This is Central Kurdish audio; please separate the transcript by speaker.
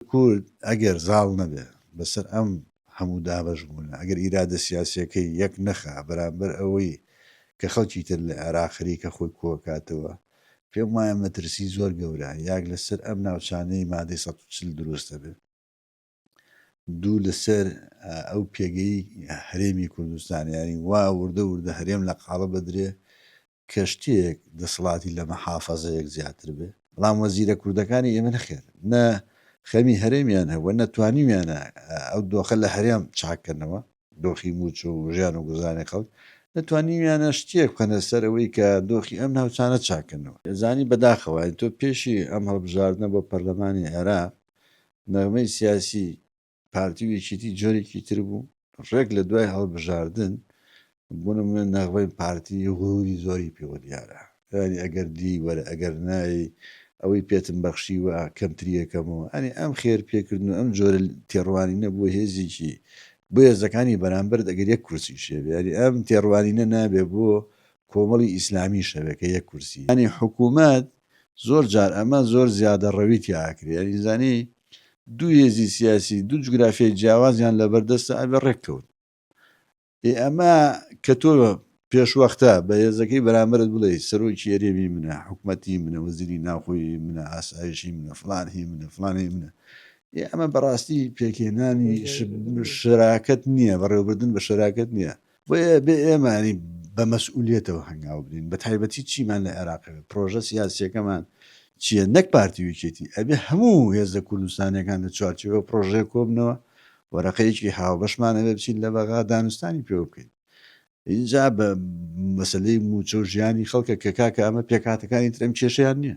Speaker 1: کورد ئەگەر زاڵ نەبێ بەسەر ئەم هەموو دابەشبوونە، ئەگەر ئیرادە سیاسییەکەی یەک نەخا بەرامبەر ئەوەی کە خەڵکی تر لە عێراق خەریکە خۆی کۆکاتەوە، پێم وایە مەترسی زۆر گەورە یاک لەسەر ئەم ناوچانەی مادەی سەد و چل دروست دەبێ، دوو لەسەر ئەو پێگەی هەرێمی کوردستان، یانی وا وردە وردە هەرێم لە قاڵب ئەدرێ کەشتییەک دەسەڵاتی لە مەحافەزەیەک زیاتر بێ، بەڵام وەزیرە کوردەکانی ئێمە نەخێر نە خەمی هەرێمیان هەبووە نە توانیویانە ئەو دۆخە لە هەرێم چاک کەنەوە، دۆخی مووچە و ژیان و گوزرانی خەڵک، نە توانیویانە شتییەک بخەنە سەر ئەوەی کە دۆخی ئەم ناوچانە چاک کەنەوە. یەزانی بەداخەوە ئەی تۆ پێشی ئەم هەڵبژاردنە بۆ پەرلەمانی عێراق نەغمەی سیاسی پارتی و یەکێتی جۆرێکی تر بوو ڕێک لە دوای هەڵبژاردن بۆ نمونە نەغبەی پارتی غروری زۆری پێوە دیارە ینی ئەگەر دی وەرە ئەگەر نایی ئەوەی پێتم بەخشی و کەمتریەکەمەوە ئەنی ئەم خێر پێکردن و ئەم جۆرە تێڕوانی نەبوو هێزیکی بۆ هێزەکانی بەرامبەر ئەگەر یەک کورسی شێوێری ئەم تێڕوانینە نابێ بۆ کۆمەڵی ئیسلامی شەوێکە یەک کورسی ئەنی حکوومەت زۆر جار ئەمە زۆر زیادە ڕەوی تیا ئەکرێ یانی زانی دوو هێزی سیاسی دوو جوگرافیای جیاوازیان لەبەر دەستە ئەبێ ڕێک کەون ئێ ئەمە کە تۆ پێشوەختە بە هێزەکەی بەرامبرت بڵێ سەرۆکی یەرێمی منە حکوومەتی منە وەزیری ناوخۆی منە ئاسایشی منە فلان هی منە فلانەی منە ئێ ئەمە بەڕاستی پێکێنانی شراکەت نییە بەڕێوەبردن بە شراکەت نییە بۆیە بێ ئێمانی بە مەسئولێتەوە هەنگاو بدەین بە تایبەتی چیمان لە عێراقەوە پرۆژە سیاسەکەمان چییە نەک پارتی وکێتی ئەبێ هەموو هێزە کوردستانەکان لە چوارچەوە پرۆژێ کۆبنەوە وەرەقەیەکی هاوبەشمانەوە بچین لە بەغا دانوستانی پێوە بکەین اینجا بە مەسلەی موچە و ژیانی خەڵکە کە کاکە ئەمە پێکاتەکانی ترم کێشیان نییە.